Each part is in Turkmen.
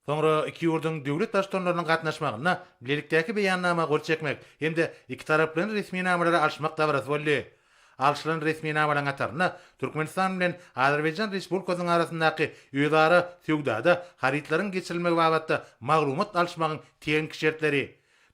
Soňra iki ýurduň döwlet baştutanlarynyň gatnaşmagynda bilelikdäki beýannama gol çekmek hem-de ikitaraplaýyn resminamalary alşmak dabarasy boldy. Alşylan resminamalaryň hatarynda Türkmenistan bilen Azerbaýjan Respublikasynyň arasyndaky özara söwdada harytlaryň geçirilmegi babatda maglumat alşmagyň tehniki şertleri,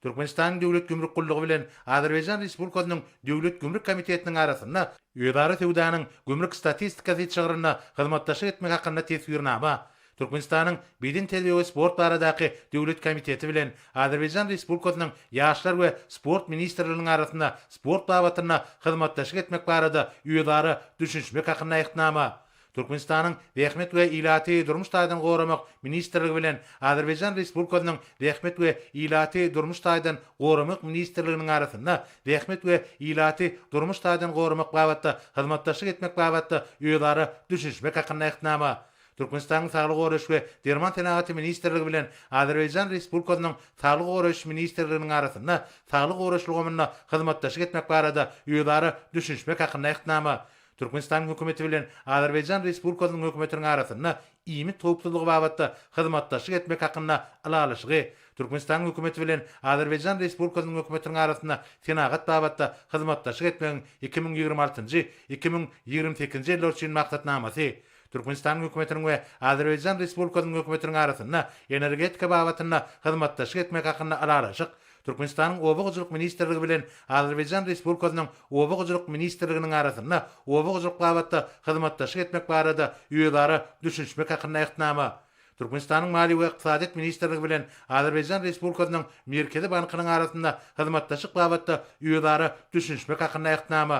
Türkmenistanyň Döwlet gümrük gullugy bilen Azerbaýjan Respublikasynyň Döwlet gümrük komitetiniň arasynda özara söwdanyň gümrük statistikasy çygrynda hyzmatdaşlyk etmek hakynda Teswirnama, Türkmenistanyň Beden terbiýe we sport baradaky döwlet komiteti bilen Azerbaýjan Respublikasynyň Ýaşlar we sport ministrliginiň arasynda sport babatynda hyzmatdaşlyk etmek barada özara düşünişmek hakynda Ähtnama, Türkmenistanyň Zähmet we ilaty durmuş taýdan goramak ministrligi bilen Azerbaýjan Respublikasynyň Zähmet we ilaty durmuş taýdan goramak ministrliginiň arasynda zähmet we ilaty durmuş taýdan goramak babatda hyzmatdaşlyk etmek babatda özara düşünişmek hakynda Ähtnama, Türkmenistanyň Saglygy goraýyş we derman senagaty ministrligi bilen Azerbaýjan Respublikasynyň Saglygy goraýyş ministrliginiň arasynda saglygy goraýyş ulgamynda hyzmatdaşlyk etmek barada özara düşünişmek hakynda Ähtnama, Türkmenistanyň Hökümeti bilen Azerbaýjan Respublikasynyň Hökümetiniň arasynda iýmit howpsuzlygy babatda hyzmatdaşlyk etmek hakynda Ylalaşygy, Türkmenistanyň Hökümeti bilen Azerbaýjan Respublikasynyň Hökümetiniň arasynda senagat babatda hyzmatdaşlyk etmegiň iki müň ýigrimi altynjy, iki müň ýigrimi sekizinji ýyllar üçin Maksatnamasy, Türkmenistanyň Hökümetiniň we Azerbaýjan Respublikasynyň Hökümetiniň arasynda energetika babatynda hyzmatdaşlyk etmek hakynda Ylalaşyk, Türkmenistanyň Oba hojalyk ministrligi bilen Azerbaýjan Respublikasynyň Oba hojalyk ministrliginiň arasynda oba hojalyk babatda hyzmatdaşlyk etmek barada özara düşünişmek hakynda Ähtnama, Türkmenistanyň Maliýe we ykdysadyýet ministrligi bilen Azerbaýjan Respublikasynyň Merkezi bankynyň arasynda hyzmatdaşlyk babatda özara düşünişmek hakynda Ähtnama,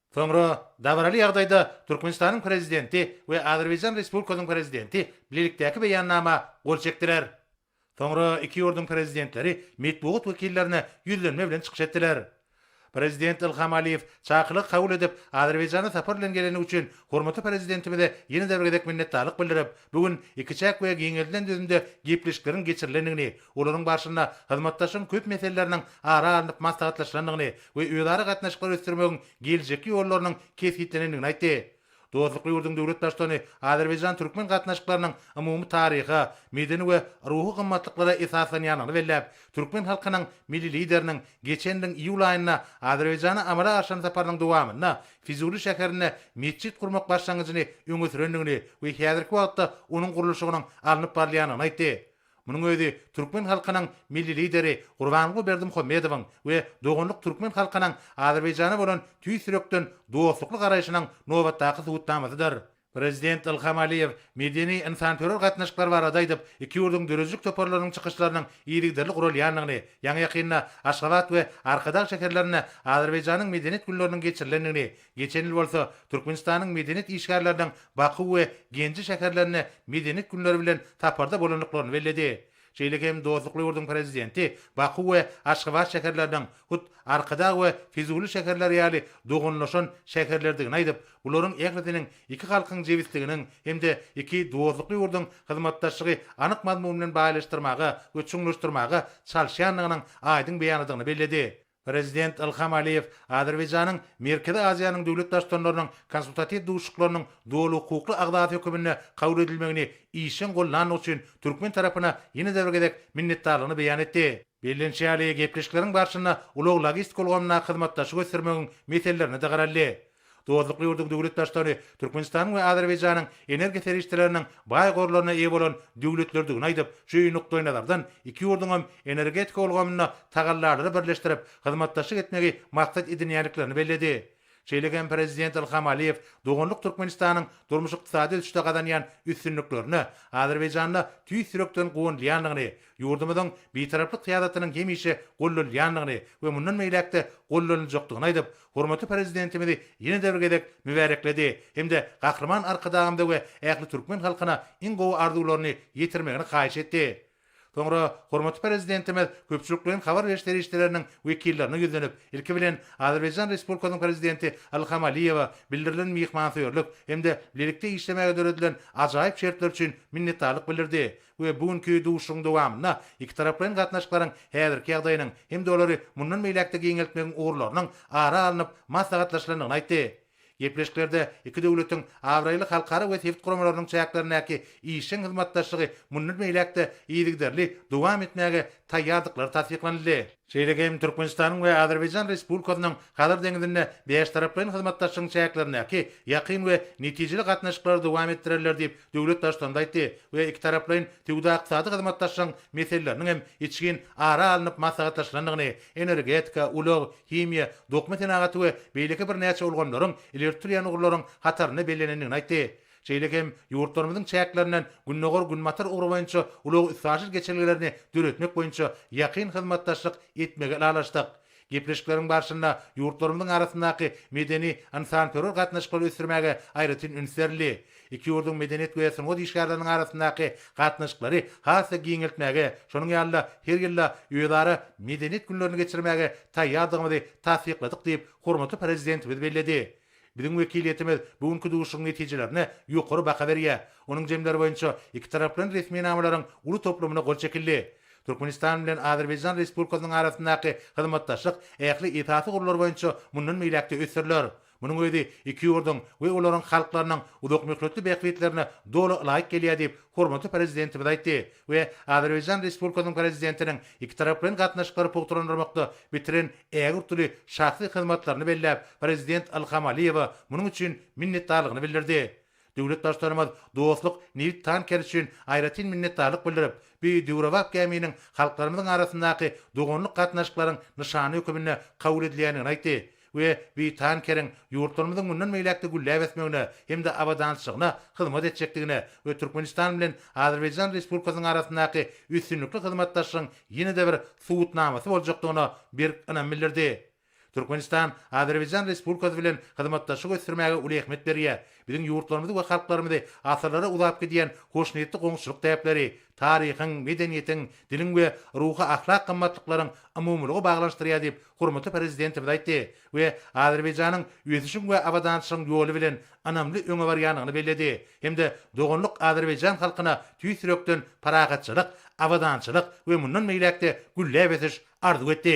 Soňra dabaraly ýagdaýda Türkmenistanyň Prezidenti we Azerbaýjan Respublikasynyň Prezidenti bilelikdäki beýannama gol çekdiler. Soňra iki ýurduň Prezidentleri metbugat wekillerine ýüzlenme bilen çykyş etdiler. Prezident Ilham Aliýew çakylygy kabul edip, Azerbaýjana sapar bilen gelendigi üçin hormatly Prezidentimize ýene-de bir gezek minnetdarlyk bildirip, bu gün ikiçäk we giňeldilen düzümde gepleşikleriň geçirilendigini, Olaryň barşynda hyzmatdaşlygyň köp meseleleriniň ara alnyp maslahatlaşylandygyny we özara gatnaşyklary ösdürmegiň geljekki ýollarynyň kesgitlenendigini aýtdy. Dostlukly ýurduň döwlet Baştutany azerbaýjan-türkmen gatnaşyklarynyň umumy taryha, medeni we ruhy gymmatlyklara esaslanýandygyny belläp, türkmen halkynyň Milli Lideriniň geçen ýylyň iýul aýynda Azerbaýjana amala aşyran saparynyň dowamynda Fizuli şäherinde metjit gurmak başlangyjyny öňe sürendigini we häzirki wagtda onuň gurluşygynyň alnyp barylýandygyny aýtdy. Munuň özi türkmen halkynyň Milli Lideri Gurbanguly Berdimuhamedowyň we doganlyk türkmen halkynyň Azerbaýjana bolan tüýs ýürekden dostlukly garaýşynyň nobatdaky subutnamasydyr. Prezident Ilham Aliýew medeni-ynsanperwer gatnaşyklar barada aýdyp, iki ýurduň döredijilik toparlarynyň çykyşlarynyň yzygiderli guralýandygyny, ýaňy-ýakynda Aşgabat we Arkadag şäherlerinde Azerbaýjanyň Medeniýet günleriniň geçirilendigini Geçen ýyl bolsa Türkmenistanyň medeniýet işgärleriniň Baku we Genji şäherlerinde Medeniýet günleri bilen saparda bolandyklaryny belledi. Şeýle hem dostlukly ýurduň Prezidenti Baku we Aşgabat şäherleriniň hut Arkadag we Fizuli şäherleri ýaly doganlaşan şäherlerdigini aýdyp, bularyň ählisiniň iki halkyň jebisliginiň hem-de iki dostlukly ýurduň hyzmatdaşlygy anyk mazmun bilen baýlaşdyrmaga we çuňlaşdyrmaga çalyşýandygynyň aýdyň beýanydygyny belledi. Prezident Ilham Aliýew Azerbaýjanyň Merkezi Aziýanyň döwlet Baştutanlarynyň Konsultatiw duşuşyklarynyň doly hukukly agzasy höküminde kabul edilmegini işjeň goldandygy üçin türkmen tarapyna ýene-de bir gezek minnetdarlygyny beýan etdi. Bellenişi ýaly, gepleşikleriň barşynda ulag-logistika ulgamyndaky hyzmatdaşlygy ösdürmegiň meselelerine-de garaldy. Dostlukly ýurduň döwlet Baştutany Türkmenistanyň we Azerbaýjanyň energiýa serişdeleriniň baý gorlaryna eýe bolan döwletlerdigini aýdyp, şu nukdaýnazardan iki ýurduň hem energetika ulgamynda tagallalary birleşdirip, hyzmatdaşlyk etmegi maksat edinýändiklerini belledi. Şeýle hem Prezident Ilham Aliýew doganlyk Türkmenistanyň durmuş-ykdysady ösüşde gazanýan üstünliklerine Azerbaýjanda tüýs ýürekden guwanylýandygyny, ýurdumyzyň Bitaraplyk syýasatynyň hemişe gollanylýandygyny we mundan beýläk-de gollanyljakdygyny aýdyp, hormatly Prezidentimizi ýene-de bir gezek mübärekledi hem-de Gahryman Arkadagymyza we ähli türkmen halkyna iň gowy arzuwlaryny ýetirmegini haýyş etdi. Soňra hormatly Prezidentimiz köpçülikleýin habar beriş serişdeleriniň wekillerine ýüzlenip, ilki bilen, Azerbaýjan Respublikasynyň Prezidenti Ylham Aliýewe bildirilen myhmansöýerlik hem-de bilelikde işlemäge döredilen ajaýyp şertler üçin minnetdarlyk bildirdi we bu günki duşuşygyň dowamynda ikitaraplaýyn gatnaşyklaryň häzirki ýagdaýynyň hem-de olary mundan beýläk-de giňeltmegiň ugurlarynyň ara alnyp maslahatlaşylandygyny aýtdy. Gepleşiklerde iki döwletiň abraýly halkara we sebit guramalarynyň çäklerindäki işjeň hyzmatdaşlygy mundan beýläk-de yzygiderli dowam etmäge taýýardyklary tassyklanyldy. Şeýle hem Türkmenistanyň we Azerbaýjan Respublikasynyň Hazar deňizinde bäştaraplaýyn hyzmatdaşlygyň çäklerindäki ýakyn we netijeli gatnaşyklary dowam etdirerler diýip, döwlet Baştutanyz aýtdy we ikitaraplaýyn söwda-ykdysady hyzmatdaşlygyň meseleleriniň hem içgin ara alnyp maslahatlaşylandygyny, energetika, ulag, himiýa, dokma senagaty we beýleki birnäçe ulgamlaryň ileri tutulýan ugurlaryň hatarynda bellenendigini aýtdy. Şeýle hem, ýurtlarymyzyň çäklerinden gündogar-günbatar ugry boýunça ulag-üstaşyr geçelgelerini döretmek boýunça ýakyn hyzmatdaşlyk etmegi ylalaşdyk. Gepleşikleriň barşynda ýurtlarymyzyň arasyndaky medeni, ynsanperwer gatnaşyklary ösdürmäge aýratyn üns berildi. Iki ýurduň medeniýet we sungat işgärleriniň arasyndaky gatnaşyklary has-da giňeltmäge, şonuň ýaly-da her ýylda özara Medeniýet günlerini geçirmäge taýýardygymyzy tassykladyk diýip, hormatly Prezidentimiz belledi. Biziň wekiliýetimiz bu günki duşuşygyň netijelerine ýokary baha berýär. Onuň jemleri boýunça ikitaraplaýyn resminamalaryň uly toplumyna gol çekildi. Türkmenistan bilen Azerbaýjan Respublikasynyň arasyndaky hyzmatdaşlyk ähli esasy ugurlar boýunça mundan beýläk-de ösdüriler. Munuň özi iki ýurduň we olaryň halklarynyň uzakmöhletli bähbitlerine doly ylaýyk gelýär diýip, hormatly Prezidentimiz aýtdy we Azerbaýjan Respublikasynyň Prezidentiniň ikitaraplaýyn gatnaşyklary pugtalandyrmakda bitiren ägirt uly şahsy hyzmatlaryny belläp, prezident Ilham Aliýewe munuň üçin minnetdarlygyny bildirdi. Döwlet Baştutanymyz Dostluk nebit tankeri üçin aýratyn minnetdarlyk bildirip, bu döwrebap gäminiň halklarymyzyň arasyndaky doganlyk gatnaşyklaryň nyşany höküminde kabul edilýändigini aýtdy we bu tankeriň ýurtlarymyzyň mundan beýläk-de gülläp ösmegine hem-de abadançylygyna hyzmat etjekdigine we Türkmenistan bilen Azerbaýjan Respublikasynyň arasyndaky üstünlikli hyzmatdaşlygyň ýene-de bir subutnamasy boljakdygyna berk ynam bildirdi. Türkmenistan Azerbaýjan Respublikasy bilen hyzmatdaşlygy ösdürmäge uly ähmiýet berýär. Biziň ýurtlarymyzy we halklarymyzy asyrlara uzap gidýän hoşniýetli goňşuçylyk däpleri, taryhyň, medeniýetiň, diliň we ruhy-ahlak gymmatlyklaryň umumylygy baglanyşdyrýar diýip, hormatly Prezidentimiz aýtdy. we Azerbaýjanyň ösüşiň we abadançylygyň ýoly bilen ynamly öňe barýandygyny belledi hem-de doganlyk Azerbaýjan halkyna tüýs ýürekden parahatçylyk, abadançylyk we mundan beýläk-de gülläp ösüş arzuw etdi.